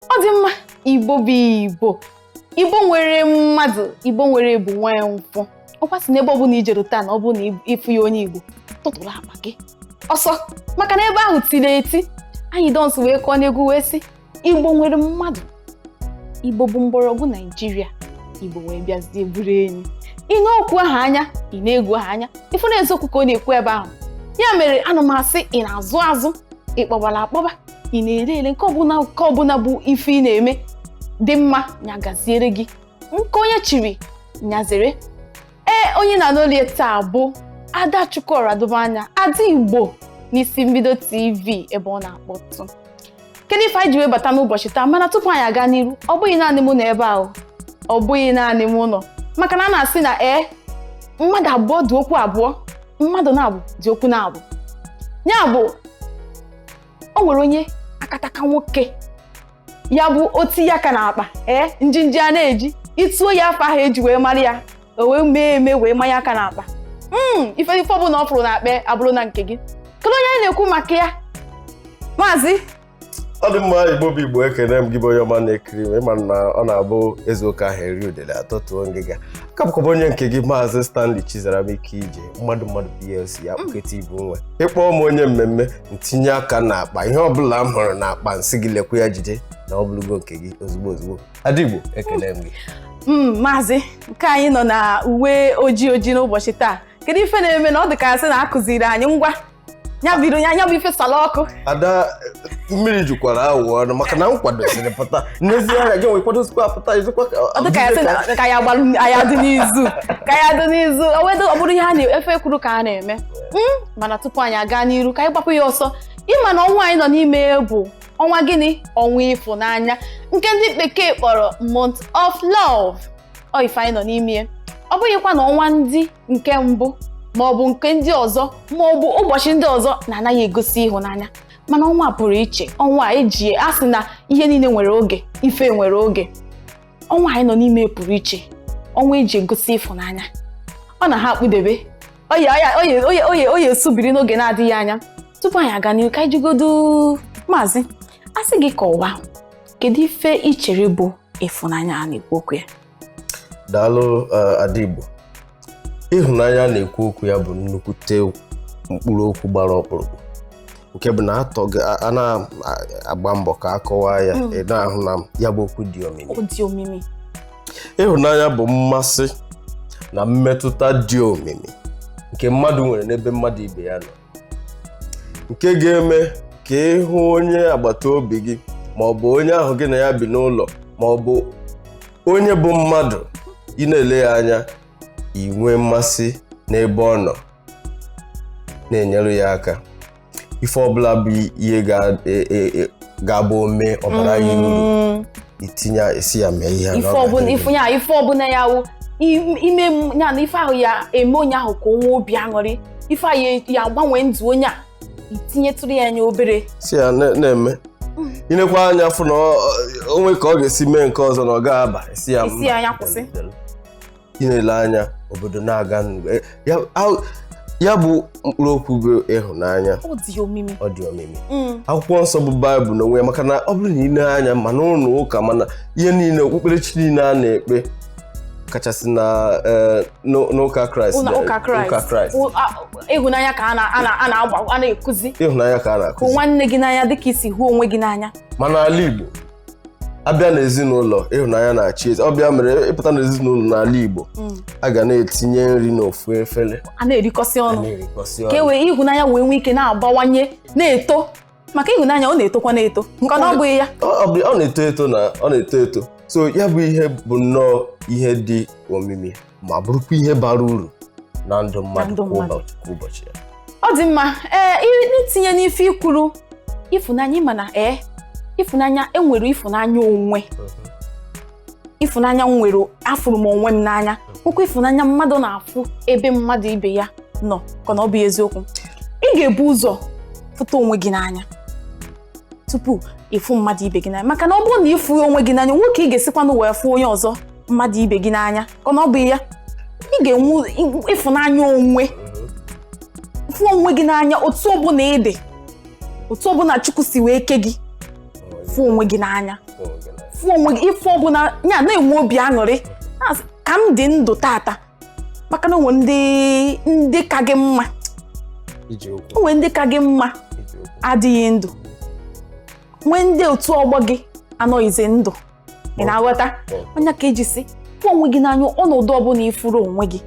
ọ dị mma igbo bụ igbo igbo nwere mmadụ igbo nwere ebu nwa ya nkwụ ọkwa a sị na ebe ọbụla ijere taa na ọ bụrụ na ịfụghị onye igbo tụtụrụ akpa gị ọsọ maka na ebe ahụ tiri eti Anyidons wee kọọ n'egwu wee sị igbo nwere mmadụ igbo bụ mgbọrọgwụ naijiria igbo wee bịazie bụrụ enyi ị nee okwu ahụ anya ị nee egwu ahụ anya ịfụ na eziokwu ka ọ na-ekwu ebe ahụ ya mere ana m asị ị na-azụ azụ ịkpọbala akpọba ị na-ere ere nke ọbụla nke ọbụla bụ ife ị na-eme dị mma nya gaziere gị nke onye chiri nya zere ee onye na n'olie taa bụ ada chukwuọra dobe anya ada igbo n'isi mbido tv ebe ọ na-akpọtụ kedu ife anyị ji wee bata n'ụbọchị taa mana tupu anyị aga n'iru ọ bụghị naanị mụ nọ ebe ahụ ọ bụghị naanị mụ nọ maka na a na-asị na ee mmadụ abụọ dị okwu abụọ mmadụ naabọ dị okwu naabọ ya bụ o nwere onye akataka nwoke ya bụ otinye aka n'akpa ee njinji a na-eji etuo ya afa ahụ eji wee mara ya o wee mee eme wee manye aka n'akpa hmm, ife ife ọbụla ọ fụrụ n'akpa abụrụ na nke gị kedu onye anyị na-ekwu maka ya maazị ọ dị mma igbo bụ igbo ekene m gị bụ onye ọma na-ekiri m ịma na ọ na-abụ ezuo ka aha eri udele atọtuo ngịga aka m bụkwa onye nke gị maazị Stanley Chizaram ike ije mmadụ mmadụ PLC ya kpụketa igbo nwe ịkpọọ m onye mmemme ntinye aka n'akpa ihe ọbụla m hụrụ n'akpa nsị gị lekwa ya jide na ọ bụrụgo nke gị ozugbo ozugbo Ada Igbo ekele m gị hmm, maazị nke anyị nọ na uwe ojii ojii n'ụbọchị taa kedu ife na-eme na ọ dị ka asị na akụziri anyị ngwa nya bụ ife sala ọkụ ada mmiri jukwara awọ ọnụ maka na m kwadosiri pụta n'ezie anya gị nwekwadosikwa apụta izikwa ka ya dị n'izu ka ya dị n'izu ọ bụrụ ihe a na ife e kwuru ka a na-eme hmm, mana tupu anyị aga n'iru ka anyị gbapụ ya ọsọ ịma na ọnwa anyị nọ n'ime bụ ọnwa gịnị ọnwa ịfụnanya nke ndị bekee kpọrọ month of love ọ ife anyị nọ n'ime ọ bụghịkwa na ọnwa ndị nke mbụ ma ọ bụ nke ndị ọzọ ma ọ bụ ụbọchị ndị ọzọ na-anaghị egosi ịhụnanya mana ọnwa pụrụ iche ọnwa eji asị na ihe niile nwere oge ife nwere oge ọnwa anyị nọ n'ime pụrụ iche ọnwa eji egosi ịfụnanya ọ na-akpudebe ọ ya-esubiri n'oge na-adịghị anya tupu anyị aga n'ihu ka anyị jụgodu maazị a sị gị kọwaa kedu ife ichere bụ ịfụnanya a na-ekwu okwu ya daalụ eh, Ada Igbo ịhụnanya a na-ekwu okwu ya bụ nnukwute mkpụrụ okwu gbara ọkpụrụkpụ nke bụ na a na-agba mbọ ka a kọwaa ya hmm. ị na-ahụ na ya bụ okwu dị omimi ịhụnanya bụ mmasị na mmetụta dị omimi nke mmadụ nwere n'ebe mmadụ ibe ya nọ nke ga-eme ka ị hụ onye agbata obi gị ma ọ bụ onye ahụ gị na ya bi n'ụlọ ma ọ bụ onye bụ mmadụ ị na-ele ya anya inwe mmasị n'ebe ọ nọ na-enyere ya aka ife ọbụla bụ ihe ga-abụ e, e, e, o mee ọ baara ya uru mm. itinye esi ya mee ihe ife ọbụla ya-awụ i mee ya na ife ahụ ya-eme onye ahụ ka o nwee obi aṅụrị ife ahụ ya-agbanwe ndụ onye a i tinyetụrụ ya anya obere sị ya na-eme i nekwaa mm. anya fụ na o nwe ka ọ ga-esi mee nke ọzọ na ọ ga-aba ị sị ya nya kwụsị ị na-ele anya obodo na-aga n'udo. Eh, ya- a- ya bụ mkpụrụ okwu bụ ịhụnanya ọ dị omimi ọ dị omimi Mm. akwụkwọ nsọ bụ baịbụl n'onwe ya maka na ọ bụrụ na i lee anya ma n'ụlọ ụka ma n'ihe niile okpukperechi niile a na-ekpe kachasị na eh, n'ụ- n'ụka kraịst ụlọ na- ụka kraịst ụka kraịst Ụ- a- ịhụnanya ka a na- a na- a na-agba a na-ekuzi ịhụnanya ka a na-akụzi hụ nwanne gị n'anya dịka i si hụ onwe gị n'anya ma n'ala Igbo a bịa n'ezinụlọ ịhụnanya na-achị eze ọ bụ ya mere ị pụta n'ezinụlọ n'ala Igbo mm. a ga na-etinye nri n'ofu efere a na-erikọsị ọnụ ka e wee ịhụnanya wee nwee ike na-abawanye na-eto maka ịhụnanya ọ na-etokwa na-eto nke ọ bụghị ya ọ na-eto eto na ọ na-eto eto so ya bụ ihe bụ nnọọ ihe dị omimi ma bụrụkwa ihe bara uru na ndụ mmadụ kwa ụbọchị ya ọ dị mma ee eh, itinye n'ife i kwuru ịfụnanya ị ma na ee eh, ịfụnanya e nwere ịfụnanya onwe ịfụnanya nwere afụrụ m onwe m n'anya nwekwuo ịfụnanya mmadụ na-afụ ebe mmadụ ibe ya nọ ka na ọ bụ eziokwu ị ga-ebu ụzọ fụta onwe gị n'anya tupu ị fụ mmadụ ibe gị n'anya maka na ọ bụrụ na ị fụ onwe gị n'anya nwoke ị ga-esikwanụ wee fụ onye ọzọ mmadụ ibe gị n'anya ka na ọ bụ ya ị ga-enwe ịfụnanya onwe fụ onwe gị n'anya otu ọbụla ị dị otu ọbụla Chukwu si wee kee gị fụ onwe gị n'anya fụ onwe gị ife ọbụla ya na-enwe obi aṅụrị ka m dị ndụ tata maka na o nwe ndị ndị ka gị mma o nwe ndị ka gị mma adịghị ndụ nwee ndị otu ọgbọ gị anọghịzi ndụ ị na-aghọta ọ nya ka e ji sị fụ onwe gị n'anya ọnọdụ ọbụla ị fụrụ onwe gị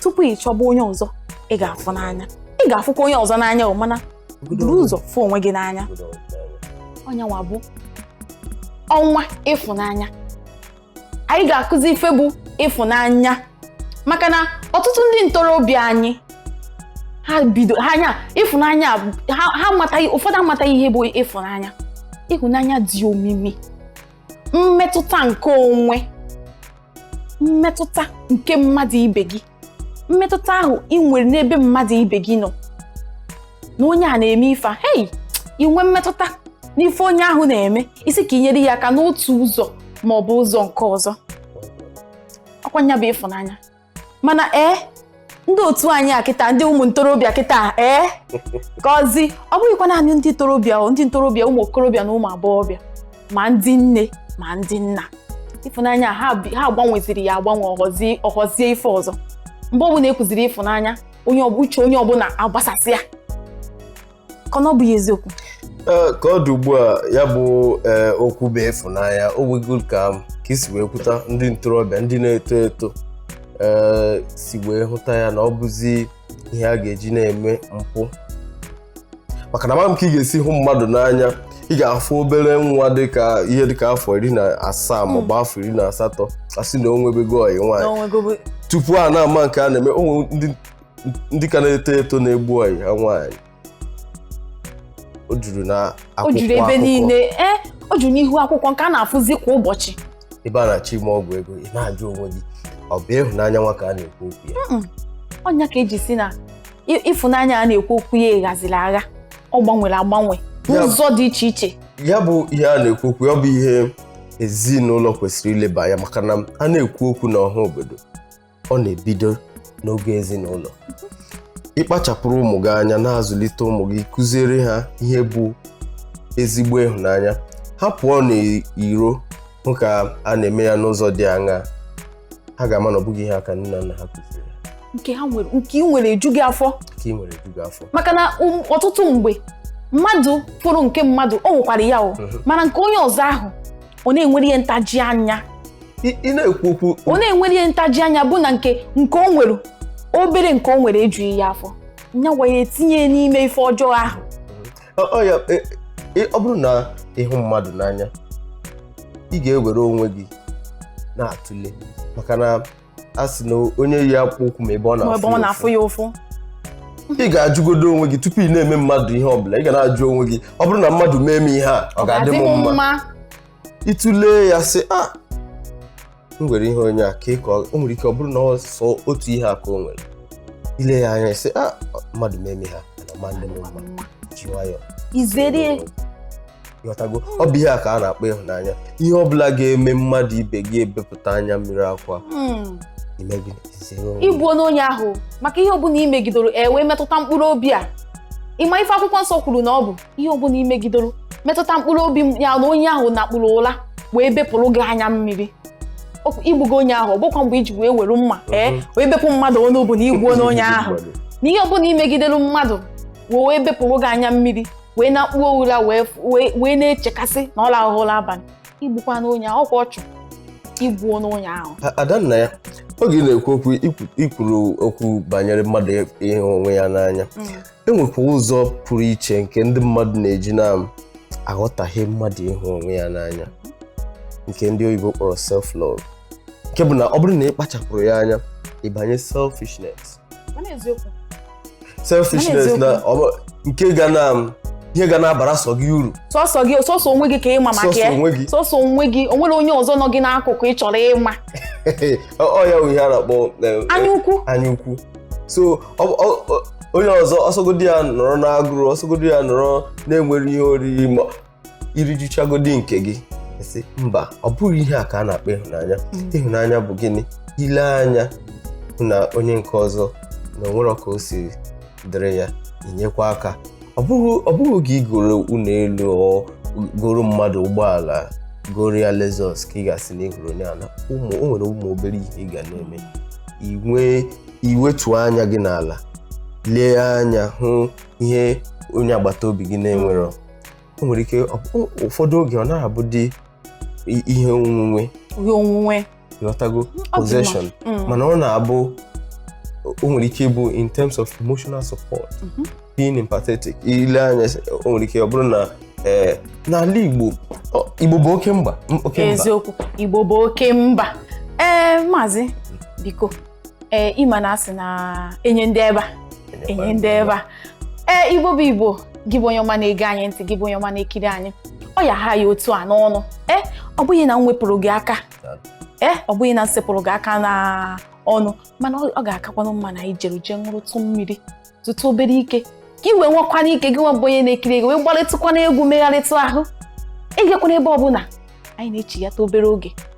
tupu ị chọba onye ọzọ ị ga-afụ n'anya ị ga-afụkwa onye ọzọ n'anya o mana buru ụzọ fụ onwe gị n'anya ọ nyanwa bụ ọnwa ịfụnanya anyị ga-akụzi ife bụ ịfụnanya maka na ọtụtụ ndị ntorobịa anyị ha bido ha anya ịfụnanya ha amataghị ụfọdụ amataghị ihe bụ ịfụnanya ịhụnanya dị omimi mmetụta nke onwe mmetụta nke mmadụ ibe gị mmetụta ahụ ị nwere n'ebe mmadụ ibe gị nọ na onye a na-eme ife hei inwe mmetụta n'ife onye ahụ na-eme ị si ka i nyere ya aka n'otu ụzọ ma ọ bụ ụzọ nke ọzọ ọkwa nya bụ ịfụnanya mana ee eh, ndị otu anyị a kịta ndị ụmụ ntorobịa kịta ee eh, cause ọ bụghịkwa naanị ndị ntorobịa ndị ntorobịa ụmụ okorobịa na ụmụ agbọghọbịa ma ndị nne ma ndị nna ịfụnanya ha gbanweziri ya agbanwe ọ ghọzie ife ọzọ mgbe ọbụla e kwuziri ịfụnanya uche onye ọbụla agbasasịa ka ọ bụghị eziokwu eh, ka ọ dị ugbu a ya bụ eh, okwu bụ ịfụnanya o nwego ka ka i si wee kwuta ndị ntorobịa ndị na-eto eto eh, si wee hụta ya na ọ bụzi ihe a ga-eji na-eme mpụ maka na amaghị m ka ị ga-esi hụ mmadụ n'anya ị ga-afụ obere nwa dịka ihe dịka afọ iri na asaa hmm. maọbụ afọ iri na asatọ a sị na o nwebego ọyị nwaanyị tupu a na-ama nke a na-eme o nwe ndị ndị ka na-eto eto na-egbu ọyị ha nwaanyị o juru na akwụkwọ o juru ebe niile ee eh, o juru n'ihu akwụkwọ nke a na-afụzi kwa ụbọchị ebe a na-achọ ime ọgwụ ego ị na-ajụ onwe gị ọ bụ ịhụnanya nwa ka a na-ekwu okwu ya ọ nya ka e ji sị na ịfụnanya a na-ekwu okwu ya ghaziri agha ọ gbanwere agbanwe n'ụzọ dị iche iche ya bụ ihe a na-ekwu okwu ya ọ bụ ihe ezinụlọ kwesịrị ileba anya maka na a na-ekwu okwu n'ọha obodo ọ na-ebido n'oge ezinụlọ ịkpachapụrụ ụmụ gị anya na-azụlite ụmụ gị kụziere ha ihe bụ ezigbo ịhụnanya ha pụọ n'iro hụ ka a na-eme ya n'ụzọ dị aṅaa ha ga-ama na ọ bụghị ihe a ka nne na nna ha kụziri nke ha nwere nke ị nwere eju gị afọ nke ị nwere eju gị afọ maka na um, ọtụtụ mgbe mmadụ fụrụ nke mmadụ o nwekwara ya o mhm. mana nke onye ọzọ ahụ ọ na-enwere ihe ntaji anya ị na-ekwu okwu ọ na-enwere ihe ntaji anya bụ na nke nke o nwere obere nke o nwere ejughị ya afọ na-ewe ya etinye n'ime ife ọjọọ ahụ e, e, ọ bụrụ na ị hụ mmadụ n'anya ị ga-ewere onwe gị na-atụle maka na a sị na onye yi akpụkpọ ụkwụ ma ebe ọ na-afụ ya ụfụ ị ga-ajụgodo onwe gị tupu ị na-eme mmadụ ihe ọ bụla ị ga na-ajụ onwe gị ọ bụrụ na mmadụ mee m ihe a ọ ga-adị m mma ị tụlee ya sị a ah, m nwere ihe onye a ka ịkọ o nwere ike ọ bụrụ na ọ sọ otu ihe a ka o nwere i lee ya anya sị a ah, mmadụ mee m ihe a ọ ma adị m mma ji nwayọọ izere ị ghọtago ọ bụ ihe a ka a na-akpọ ịhụnanya ihe ọ bụla ga-eme mmadụ ibe gị ebepụta anya mmiri akwa hmm. ịbụ onye onye ahụ maka ihe ọbụla i megidoro e wee metụta mkpụrụ obi ya ị ma ife akwụkwọ nsọ kwuru na ọ bụ ihe ọbụla imegidoro metụta mkpụrụ obi ya na onye ahụ nakpuru ụla wee bepụrụ gị anya mmiri igbugo onye ahụ ọ bụkwa mgbe iji wee were mma ee eh, wee bepụ mmadụ onu bụ na igbuona onye ahụ na ihe ọbụla imegidere mmadụ wee wee bepụrụ gị anya mmiri wee nakpuo ụra wee na-echekasị na ọ rahụ ụla abalị igbukwana onye ahụ ọkwa ọchụ igbuona onye ahụ Adannaya oge ị na-ekwu okwu ikwuru okwu banyere mmadụ ịhụ onwe ya n'anya mm. e nwekwa ụzọ pụrụ iche nke ndị mmadụ na-eji na-aghọtahie mmadụ ịhụ onwe ya n'anya nke ndị oyibo kpọrọ self love nke bụ na ọ bụrụ na ị kpachapụrọ ya anya ịbanye selfishness selfishness na nke ga na ihe ga na-abara sọ gị uru sọsọ gị sọsọ onwe gị ka ịma maka ya sọsọ onwe gị onwerọ onye ọzọ nọ gị n'akụkụ ị chọrọ ịma ọ ya bụ ihe a na-akpọ eh, anya ukwu so onye ọzọ ọsọgodi ya nọrọ n'agụrụ ọsọgodi ya nọrọ na-enwerọ ihe oriri ma irijuchagodi nke gị sị mba ọ bụghị ihe a ka a na-akpọ ịhụnanya mm. ịhụnanya bụ gịnị ile anya hụ na onye nke ọzọ na onwere ka o si dịrị ya inyekwa aka ọ bụghị oge igoro ụlọ elu goro mmadụ ụgbọala goro ya Lexus ka ị ga-asị na ịhụrụ onye a n'anya o nwere ụmụ obere ihe ị ga na-eme inwe iwetuo anya gị n'ala lee anya hụ ihe onye agbata obi gị na-enwerọ o nwere ike ụfọdụ oge ọ na-abụdị ihe onwunwe ihe onwunwe ịghọtago possession mm. mana ọ na-abụ o nwere ike ịbụ in terms of emotional support mhm. being empathetic ile anya o nwere ike ọ bụrụ na eh, n'ala Igbo Igbo bụ oke mba eziokwu Igbo bụ oke mba ee eh, maazị biko ee ịma na asị na enye ndị ebe a enye ndị ebe a ee Igbo bụ Igbo gị bụ onye ọma na-ege anyị ntị gị bụ onye ọma na-ekiri anyị ọ ya ha ya otu a n'ọnụ ee ọ bụghị na m wepụrụ gị aka ee ọ bụghị na m sepụrụ gị aka n'ọnụ mana ọ ga-akakwanụ mma na anyị jere jee ṅụrụtụ mmiri tụtụ obere ike ka i wee nwekwana ike gị nwa bụ onye na-ekiri ego wee gbarịtụkwana egwu megharịtụ ahụ ejekwana ebe ọbụla anyị na-echighata obere oge